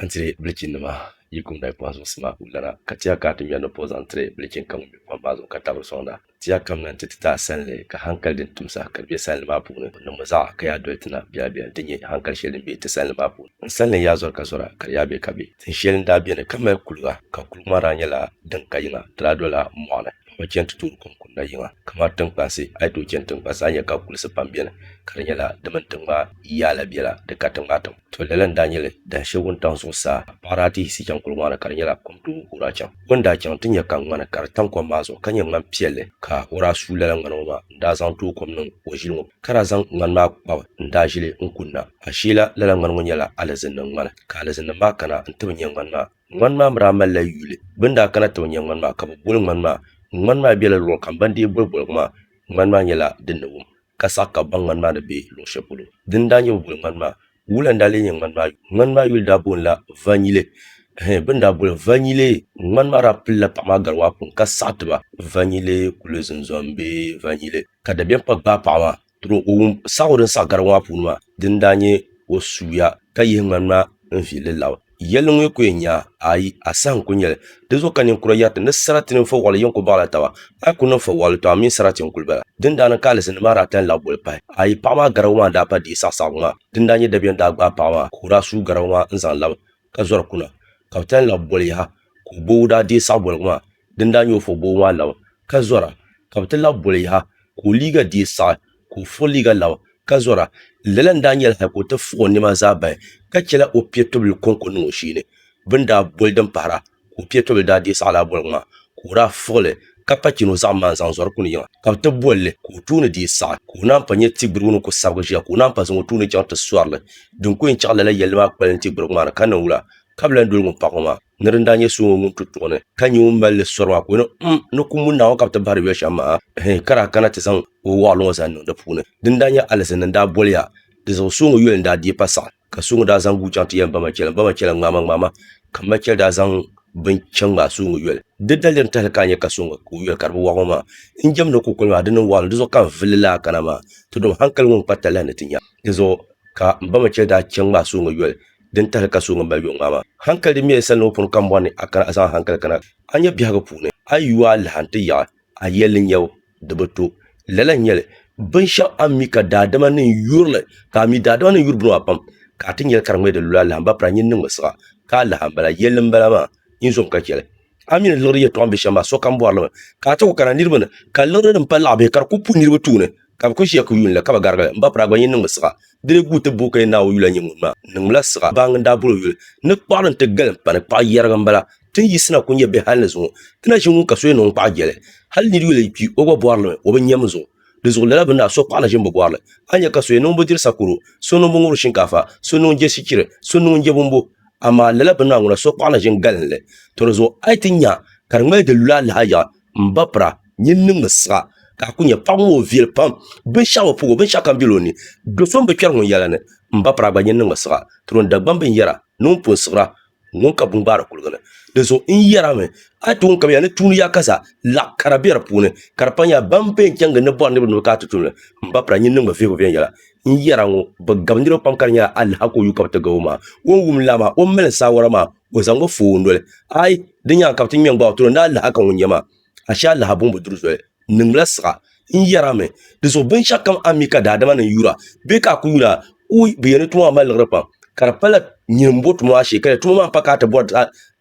N tiri bilichinnima yi kum dayi pɔhim zuŋsi maa ka o lana, ka ti ya ka a ti ŋmɛri ni pɔh zaŋ tiri bilichin kam ŋun be kom maa zuɣu ka tabiri sɔŋda. Ti ya kamina nti ti ti a sanli, ka hankali din tum saha ka di be sanli maa puuni, n niŋmi zaɣa ka yaa doli ti na biɛla biɛla nti nya hankali sheli din be ti sanli maa puuni. N sanli n yaa zɔri ka zɔra, ka di yaa be ka be. Tin sheli n daa beni ka mali kuliga, ka kuliga maa daa nyɛla din ka yiŋa, di daa dola mɔɣuni. N bi chani ti toori kom kunda yiŋa kamani tinkpansi, a yi tooi chani tinkpansi a ni nya ka kulisi pam beni, ka di nyɛla di mini tiŋ maa yaa la biɛla, di ka tiŋ maa tiŋ. To lala n daa nyɛli dahin shɛli wuntaŋ zuɣusaa ka paɣa daa ti yiɣisi chaŋ kuligi maa ni ka di nyɛla kom tooi guura chaŋ. O ni daa chaŋ n ti nya ka ŋmani ka di tam kom maa zuɣu ka nyɛ ŋmani piɛlli ka o daa suui lala ŋmani ŋɔ maa n daa zaŋ tooi kom niŋ o ʒili ŋɔ ka daa zaŋ ŋmani maa kpabi n daa ʒili n kunna. Asheela lala ŋmani ŋɔ nyɛla alizinnim ŋmani ka alizinnim maa kana n ti bi nya ŋmani maa. Ŋmani maa mi daa malila yuli. Bɛ ni daa kana ti bi nya ŋmani maa ka bɛ boli ŋmani maa. Ŋmani maa bela luɣili kam ban dii boli boligu maa ŋmani maa nyɛla din ni wum ka saɣi ka baŋ ŋmani maa ni be luɣ shɛli polo din daa nyɛ bɛ boli ŋmani maa. Wula n-daa lee nyɛ ŋmani maa yuli? Ŋmani maa yuli daa bonila Vanyile. Hee, bɛ ni daa boli Vanyile ŋmani maa daa pilila paɣ maa gari waa pun ka saɣi ti ba. Vanyile kuli zinzɔmi be Vanyile ka dabiɛm pa gbaai paɣ maa tiri o wum saɣigu din saɣi garigu maa puuni maa din daa nyɛ o suuya ka yihi ŋmani maa n-vihi li lab. Yɛlli ŋɔ yi ku yɛn nya, ayi, a saha n-kul nyɛli. Di zuɣu ka ninkura yɛriti ni sarati mini fɔwaɣili yɛn ku baɣila taba. A yi ku niŋ fɔwaɣili, tɔ a mini sarati n-kul bala. Dindaa ni ka alizini maa daa tan lahi boli pahi. Ayi, paɣ maa garabu maa n-daa pa di saɣisaɣigu maa. Din daa nyɛ dabiɛm daa gbaai paɣ maa ka o daa suui garabu maa n-zaŋ labi ka zɔri kuna, ka bɛ tan lahi boli yaha ka o boobu daa deei saɣiboligu maa din daa nyɛ o fɔ boobu maa labi ka zɔra, ka bɛ ti lahi boli yaha ka o liiga deei saɣi. ka o furi liiga naŋ ka zɔra. Lala n-daa nyɛla hal ka o ti fuɣ o nɛma zaa bahi, ka chɛla o piɛtɔbili kɔŋko niŋ o shee ni. Bɛ ni daa boli din pahira, ka o piɛtɔbili daa deei saɣilaa boligu maa, ka o daa fuɣ li, ka pa chini o zaɣim maa n-zaŋ zɔri kuni yiŋa. Ka bɛ ti boli li, ka o tuuni dii saɣi, ka o naan pa nya ti gbirigu ni ku sabigi ʒiya, ka o naan pa zaŋ o tuuni chaŋ ti sɔri li. Din ku yɛn chaɣi lala yɛlli maa kpali n-ti gbirigu maa ni, ka niŋ wula ka bɛ lan doli ŋun paɣi o maa? Ni din daa nyɛ so ŋɔ ŋun tu tuɣu ni, ka nyɛ ŋun mali li sɔri maa, ka o yɛli, M, ni kum muni Naawuni ka bɛ ti bahiri yoli shɛm maa? Ɛhɛi, ka daa kana ti zaŋ o wɔɣili ŋɔ zaŋ niŋ di puuni. Din daa nyɛ alizin ni n-daa boli ya, di zuɣu so ŋɔ yoli n-daa deei pa saɣim, ka so ŋɔ daa zaŋ guui chaŋ ti yɛli m ba Machɛl, m ba Machɛl ŋmaama ŋmaama, ka m Machɛl daa zaŋ bini chaŋ ŋmaai so ŋɔ yoli. Di daliri tahili ka a nya ka so ŋɔ ka o yoli ka di bi wɔɣi ŋɔ maa, n jɛmdi ni kukoli maa, di niŋ wɔɣili, di zuɣu ka n vuli li laa kana maa, ti dom hankali ŋɔ n-kpa talahi ni ti nya. Di zuɣu ka m ba Machɛl daa chaŋ ŋmaai so ŋɔ yoli. din tahili ka so ŋun mali yuŋ maa maa. Hankali din mɛri sani ni o pun ka mɔri ni, a kana a zaŋ a hankali kana a nya biɛhigu puuni. A yu a lahi n-ti yaɣi a yɛli n yab di bi to. Lala n-nyɛ li, binshɛɣu a ni mi ka daadama ni yuri li, ka a mi daadama ni yuri bini maa pam, ka a ti nyɛli ka di ŋmɛ di lula lahimba pira nyin niŋmi siɣa, ka a lahi a m-bala. Yɛlli m-bala maa, nyin zom ka chɛ li. A ni liɣiri yɛtɔɣa bɛ shɛm maa, sokam bɔri li mi ka a ti ku kana niriba ni, ka liɣiri din pali laɣibihi ka di kul pu niriba tuuni, ka bɛ kul ʒiya ka yuun li, ka bi garigi li. M ba Piraa gba nyin niŋmi siɣa. Di lee guui ti booi ka yɛn Naawuni yula n-nyɛ ŋun maa. N niŋmila siɣa. Baaŋa n-daa bol o yuli ni kpaɣili nti galim pa ni kpaɣ yɛrigi m-bala. Ti ni yiɣisina ku nya bɛ hal ni zuŋɔ. Ti na ʒi ŋun ka so yɛn niŋ ŋun kpaɣ jɛli. Hal nir yuli yi kpi, o gba bɔri li mi, o bi nyam zuŋɔ. Di zuɣu lala bini a so kpaɣila ʒini bi bɔrili. A nya ka so yɛn niŋ bi diri sakoro, so niŋ bi ŋuri shinkaafa, so niŋ je sichiri, so niŋ je bumbu. Amaa lala bini a ŋuna so kpaɣila ʒini galinli. Tɔ di zuɣu a yi ti nya ka di ŋmali di lu alahi a yaɣa, m ba pira, nyin niŋ mi siɣa, ka a ku nya paɣibu ŋɔ o viɛli pam, binshɛɣu bi puhigu, binshɛɣu kam bela o ni. Do so m-bi kpɛri ŋun yɛla ni, m ba pira a gba nyin niŋ mi siɣa. Tɔ din Dagbamb binyɛra ni ŋun pun siɣira, ŋun ka bungbaari kuligi ni di zuɣu n yɛra mi a yi tooi kabiya ni tuun ya ka zaa laɣ kara bɛ di puuni ka di panya ban pee chɛŋ gindi bɔri niriba ni bi kana ti tumli m ba pira nyin niŋ bi vihigu viɛnyɛla n yɛra ŋɔ bi gabi niriba pam ka di nyɛla alaha ka o yu ka bi ti gabo maa o ni wum lala maa o ni mali saawara maa o zaŋmi fooi noli ai di nyaaŋa ka bi ti ŋmɛ n gbaai o tiri o ni alaha ka ŋun nyɛ maa ashe alaha buŋ bi duri zoli n niŋdila siɣa n yɛra mi di zuɣu binshaɣu kam a ni mi ka daadama nim yura bee ka a ku yuli a wui bi yɛn ni tuma maa mali liɣiri pam ka di pala nyin n bo tuma maa shee ka di tuma maa pa ka a ti bɔri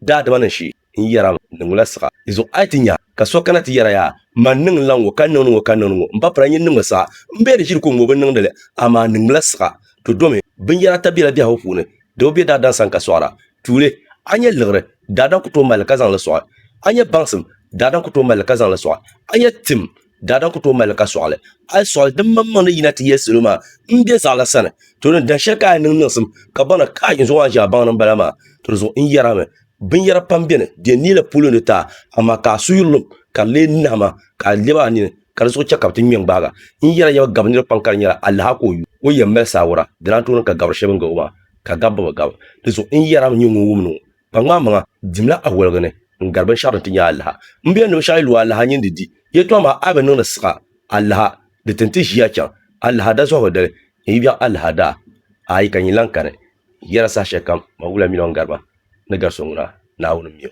daadama nim shee n yɛra mi n niŋdila siɣa di zuɣu a yi ti nya ka so kana ti yɛra yaa man niŋ n la ŋɔ ka n niŋdi ŋɔ ka n niŋdi ŋɔ n ba pira nyin niŋmi siɣa n bɛ di ʒiri ko ŋɔ bi niŋdi li amaa n niŋdila siɣa to domi binyɛra ata bɛla biɛhigu puuni Doo be daadana sani ka sɔɣira, tuuli, a ni nyɛ liɣiri, daadana ku tooi mali li ka zaŋ li sɔɣi. A ni nyɛ baŋsim, daadana ku tooi mali li ka zaŋ li sɔɣi. A ni nyɛ tim, daadana ku tooi mali li ka sɔɣi li. A yi sɔɣi li, dimmaŋmaŋ ni yina ti yɛli salo maa, M be zaɣ la sani, to din dahin shɛli ka a ni niŋ niŋsim, ka baŋ na, Kaai! N zuɣu maa ʒiɛɣu baŋ ni m-bala maa. To di zuɣu n yɛrimi, Binyɛra pam beni, di yɛn neei la polo ni ti a, amaa ka a suhuri lim, ka di lee nahi ma ka a lɛbi a nini. ka di zuɣu chɛ ka bɛ ti ŋme n-gbaaga. N yɛn na yɛn bi gabi nir kpaŋ ka di nyɛla alaha ka o yu. O yɛn mali saawura, dina Antooni ka gabiri shɛba n-gari o maa, ka gabi bɛ bi gabi. Di zuɣu n yɛn na mi nyɛ ŋun wum ni ŋɔ kpaŋmaamaŋa dimla awaligi ni n-gari binshɛɣu din ti nyɛ alaha. M biɛhinim ni binshɛɣu yi lu alaha nyin di di yɛtɔɣ maa a yi bi niŋ di siɣa alaha, di tin ti ʒiya chaŋ alaha dazɔhibu dali ni yi biɛɣ alaha daa ayi ka nyin lan kani. N yɛn na saha shɛlikam Mawula mi ni o ni gari ba ni gari so ŋuna, Naawuni m-mi o.